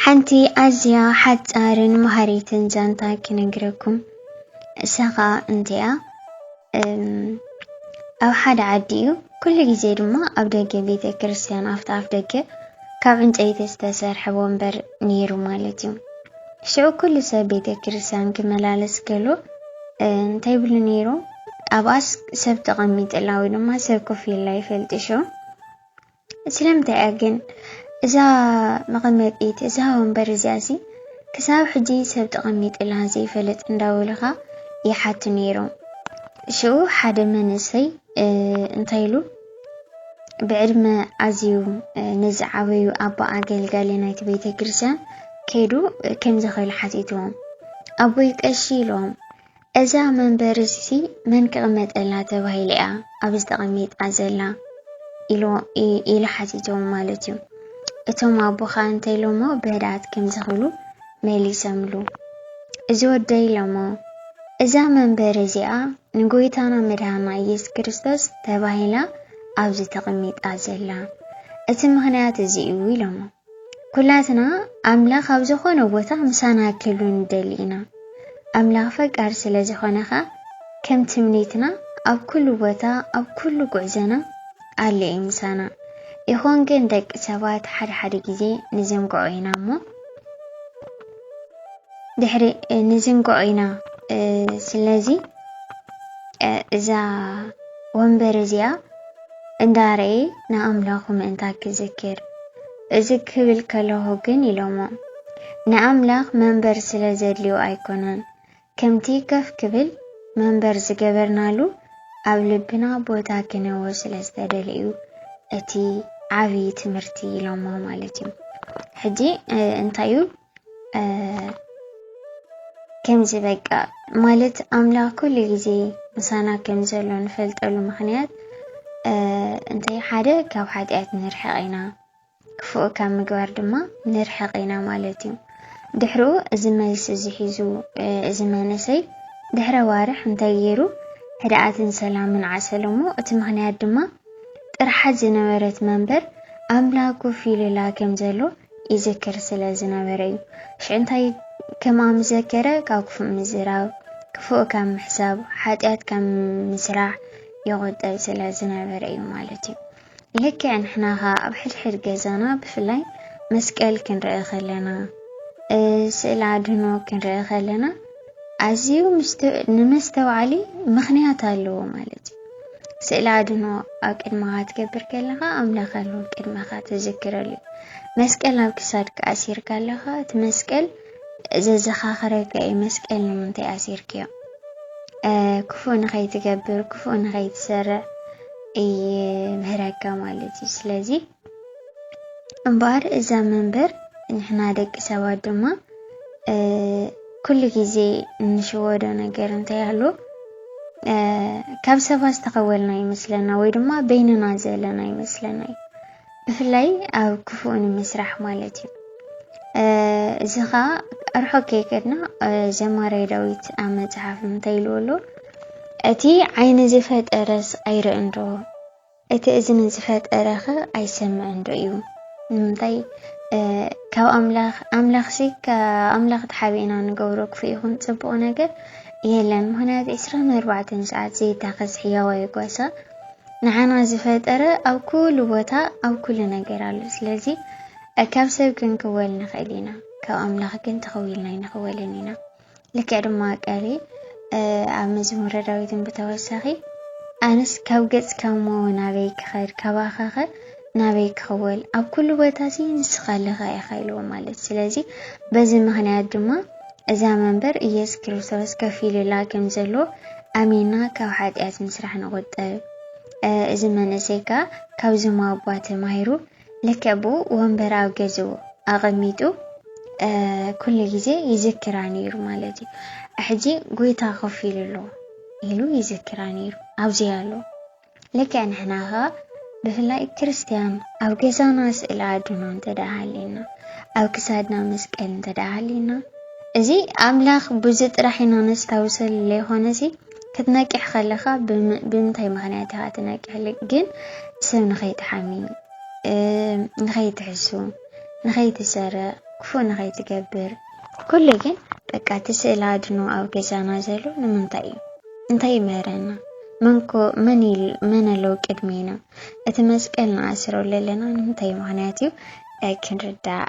ሓንቲ ኣዝያ ሓጻርን መሃሪትን ዛንታ ክነግረኩም እሳ ከኣ እንቲኣ ኣብ ሓደ ዓዲ እዩ ኩሉ ግዜ ድማ ኣብ ደገ ቤተ ክርስቲያን ኣብቲ ኣፍ ደገ ካብ ዕንጨይቲ ዝተሰርሐ ወንበር ነይሩ ማለት እዩ ሽዑ ኩሉ ሰብ ቤተ ክርስቲያን ክመላለስ ከሎ እንታይ ብሉ ነይሩ ኣብኣስ ሰብ ተቐሚጥላ ወይ ድማ ሰብ ኮፍ ኢላ ይፈልጥሾ ስለምንታይ እያ ግን እዛ መቐመጢት እዛ ወንበር እዚኣሲ ክሳብ ሕጂ ሰብ ተቐሚጥላ ዘይፈልጥ እንዳበሉኻ ይሓቱ ነይሮም። ሽኡ ሓደ መንእሰይ እንታይ ኢሉ ብዕድመ ኣዝዩ ንዝዓበዩ ኣቦ ኣገልጋሊ ናይቲ ቤተ ክርስቲያን ከይዱ ከምዚ ክብል ሓቲትዎም ኣቦይ ቀሺ ኢሎም እዛ መንበሪ እዚሲ መን ክቕመጠላ ተባሂላ እያ ኣብዚ ተቐሚጣ ዘላ ኢሉ ኢሉ ሓቲቶም ማለት እዩ። እቶም ኣቦ ከዓ እንታይ ኢሎሞ በህድኣት ከምዚ ክብሉ መሊሰምሉ። እዚ ወደይ ኢሎሞ እዛ መንበሪ እዚኣ ንጎይታና መድሃና ኢየሱስ ክርስቶስ ተባሂላ ኣብዚ ተቐሚጣ ዘላ እቲ ምኽንያት እዚ እዩ ኢሎሞ። ኩላትና ኣምላኽ ኣብ ዝኾነ ቦታ ምሳና ክህሉ ንደሊ ኢና። ኣምላኽ ፈቃር ስለ ዝኾነ ከኣ ከም ትምኒትና ኣብ ኩሉ ቦታ ኣብ ኩሉ ጉዕዘና ኣሎ እዩ ምሳና። ይኹን ግን ደቂ ሰባት ሓደ ሓደ ግዜ ንዝንግዖ ኢና እሞ ድሕሪ ንዝንግዖ ኢና ስለዚ እዛ ወንበር እዚኣ እንዳረኤ ንኣምላኹ ምእንታ ኪዝክር እዚ ክብል ከለኹ ግን ኢሎሞ ንኣምላኽ መንበር ስለ ዘድልዮ ኣይኮነን ከምቲ ከፍ ክብል መንበር ዝገበርናሉ ኣብ ልብና ቦታ ኪነዎ ስለ ዝተደልየ እዩ እቲ ዓብዪ ትምህርቲ ኢሎሞ ማለት እዩ ሕጂ እንታይ እዩ ከምዚ በቃ ማለት ኣምላኽ ኩሉ ግዜ ምሳና ከም ዘሎ ንፈልጠሉ ምኽንያት እንታይ ሓደ ካብ ሓጢኣት ንርሕቕ ኢና ክፉእ ካብ ምግባር ድማ ንርሕቕ ኢና ማለት እዩ ድሕሪኡ እዚ መልሲ እዚ ሒዙ እዚ መንእሰይ ድሕረ ዋርሕ እንታይ ገይሩ ሕድኣትን ሰላምን ዓሰሎሞ እቲ ምኽንያት ድማ ጥርሓት ዝነበረት መንበር ኣምላኩ ፊሉላ ከም ዘሎ ይዝክር ስለ ዝነበረ እዩ። ሽዑ እንታይ ከምኣም ዘከረ? ካብ ክፉእ ምዝራብ፣ ክፉእ ካብ ምሕሳብ፣ ሓጢኣት ካብ ምስራሕ ይቑጠብ ስለ ዝነበረ እዩ ማለት እዩ። ልክዕ ንሕና ኸኣ ኣብ ሕድሕድ ገዛና ብፍላይ መስቀል ክንርኢ ከለና፣ ስእሊ ኣድህኖ ክንርኢ ከለና ኣዝዩ ንመስተውዓሊ ምኽንያት ኣለዎ ማለት እዩ። ስእሊ ኣድህኖ ኣብ ቅድመኻ ትገብር ከለኻ ኣምላኽ ኣሎ ቅድመኻ ትዝክረሉ እዩ። መስቀል ኣብ ክሳድካ ኣሲርካ ኣለኻ እቲ መስቀል ዘዘኻኽረካ እዩ መስቀል ንምንታይ ኣሲርክዮ ክፉእ ንኸይትገብር ክፉእ ንኸይትሰርዕ ይምህረካ ማለት እዩ። ስለዚ እምበኣር እዛ መንበር ንሕና ደቂ ሰባት ድማ ኩሉ ግዜ እንሽወዶ ነገር እንተይሃሎ ካብ ሰባት ዝተኸወልና ይመስለና ወይ ድማ በይንና ዘለና ይመስለና እዩ ብፍላይ ኣብ ክፉእ ንምስራሕ ማለት እዩ እዚ ከዓ ኣርሖ ከይከድና ዘማራይ ዳዊት ኣብ መፅሓፍ እንታይ ኢልዎ ኣሎ እቲ ዓይኒ ዝፈጠረስ ኣይርእንዶ እቲ እዝኒ ዝፈጠረኸ ኣይሰምዕን ዶ እዩ? ንምንታይ ካብ ኣምላኽ ኣምላኽሲ ካብ ኣምላኽ ተሓቢእና ንገብሮ ክፉእ ይኹን ጽቡቕ ነገር የለን። ምክንያቱ ዕስራን ኣርባዕተን ሰዓት ዘይታኸስ ሕያዋይ ጓሳ ንዓና ዝፈጠረ ኣብ ኩሉ ቦታ ኣብ ኩሉ ነገር ኣሎ። ስለዚ ካብ ሰብ ክንክወል ንኽእል ኢና፣ ካብ ኣምላኽ ግን ተኸዊልና ኣይንኽወልን ኢና። ልክዕ ድማ ቀሪ ኣብ መዝሙረ ዳዊትን ብተወሳኺ ኣነስ ካብ ገጽካ እሞ ናበይ ክኸድ ካባኻኸ ናበይ ክኽወል ኣብ ኩሉ ቦታ ሲ ንስኻ ኣለኻ ኢኻ ኢልዎ ማለት ስለዚ በዚ ምክንያት ድማ እዛ መንበር ኢየሱስ ክርስቶስ ከፊሉላ ከም ዘሎ ኣሚና ካብ ሓጢኣት ምስራሕ ንቑጠብ እዚ መንእሰይ ከዓ ካብዞም ኣባ ተማሂሩ ልክዕ ብኡ ወንበር ኣብ ገዝኡ ኣቐሚጡ ኩሉ ግዜ ይዝክራ ነይሩ ማለት እዩ። ሕጂ ጎይታ ኮፍ ኢሉ ኣሎ ኢሉ ይዝክራ ነይሩ ኣብዚ ኣሎ። ልክዕ ንሕና ኸኣ ብፍላይ ክርስትያን ኣብ ገዛና ስእሊ ኣድኖ እንተ ሃሊና ኣብ ክሳድና መስቀል እንተ ሃሊና እዚ ኣምላኽ ብዙ ጥራሕ ኢና ነስታውሰሉ ዘይኮነሲ ክትነቅሕ ከለኻ ብምንታይ ምክንያት ኢኻ ትነቅሕ ግን ሰብ ንኸይትሓሚ ንኸይትሕሱ ንኸይትሰርቕ ክፉእ ንኸይትገብር ኩሉ ግን በቃ እቲ ስእሊ ኣድኖ ኣብ ገዛና ዘሎ ንምንታይ እዩ እንታይ ይምህረና መንኮ መን መን ኣለዉ ቅድሜና እቲ መስቀል ንኣስሮ ኣለና ንምንታይ ምክንያት እዩ ክንርዳእ